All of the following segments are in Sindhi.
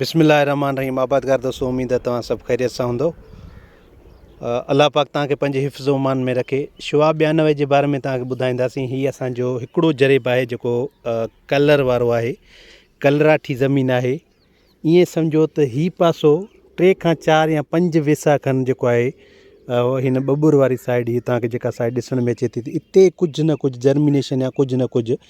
بسم الله الرحمٰن الرحيم آبادگار دوستو اميد آهي توهان سڀ خيريت سان هوندو الله پاڪ تان کي پنهنجي حفظ و امان ۾ رکي شعاع ٻيانوي جي باري ۾ تان کي ٻڌائينداسين هي اسان جو هڪڙو جريب آهي جيڪو ڪلر وارو آهي ڪلراٺي زمين آهي ائين سمجهو ته هي پاسو ٽي کان چار يا پنج ويسا کن جيڪو آهي هن ٻٻر واري سائيڊ هي تان کي جيڪا سائيڊ ڏسڻ ۾ اچي ٿي اتي ڪجهه نه ڪجهه جرمينيشن يا ڪجهه نه ڪجهه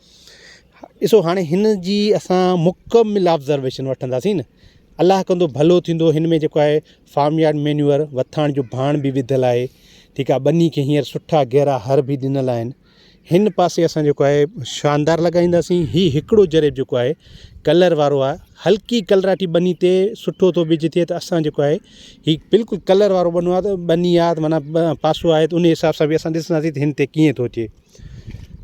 ڏسو هاڻي هن جي اسان مڪمل آبزرويشن وٺنداسين نه الله ڪندو ڀلو ٿيندو هن ۾ جيڪو آهي فارم يارڊ مينيور وٿاڻ جو ڀاڻ بي وڌل آهي ٺيڪ آهي ٻني کي هينئر سٺا گهرا هر بي ڏنل آهن هن پاسي اسان جيڪو آهي شاندار لڳائينداسين هي هڪڙو جريب جيڪو آهي ڪلر وارو آهي هلڪي ڪلراٽي ٻني تي سٺو ٿو بج ٿئي ته اسان جيڪو آهي هي بلڪل ڪلر وارو ٻنو آهي ته ٻني آهي ته معنيٰ پاسو آهي ته ان حساب سان بي اسان ڏسنداسين ته هن تي ڪيئن ٿو اچي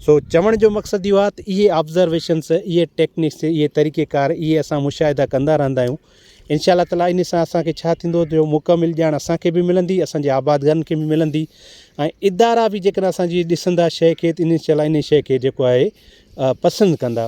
سو چوڻ جو مقصد اهو آهي ته اهي آبزرويشنس اهي ٽيڪنڪس اهي طريقي ڪار اهي اسان مشاهدا ڪندا رهندا آهيون انشاء الله تعالٰي ان سان اسانکي ڇا ٿيندو جو مڪمل ڄاڻ اسانکي به ملندي اسانجي آبادگارن کي به ملندي ۽ ادارا به جيڪڏهن اسانجي ڏسندا شيء کي انشاء الله ان شيء کي جيڪو آهي پسند ڪندا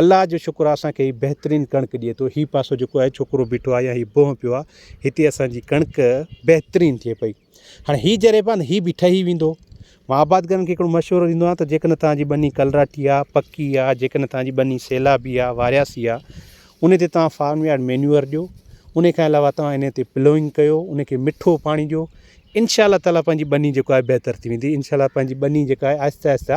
الله جو شڪر آ اسان کي هي بهترين ڪڻڪ ڏئي ٿو هي پاسو جيڪو آهي ڇوڪرو بيٺو آهي يا هي بونهه پيو آهي هتي اسان جي ڪڻڪ بهترين ٿئي پئي هاڻي هي جري به هي به ٺهي ويندو مان آباد گارن کي هڪڙو مشورو ڏيندو آهيان ته جيڪڏهن توهان جي ٻني ڪلراٺي آ پڪي آ جيڪڏهن توهان جي ٻني سيلابي آ وارياسي آ ان تي توهان فارم يارڊ مينيور ڏيو ان کان علاوه توهان ان تي پلوئنگ ڪيو ان کي مٺو پاڻي ڏيو انشاء الله تعاليٰ پنهنجي ٻني جيڪو آهي بهتر ٿي ويندي انشاء الله پنهنجي ٻني جيڪا آهي آهستي آهستي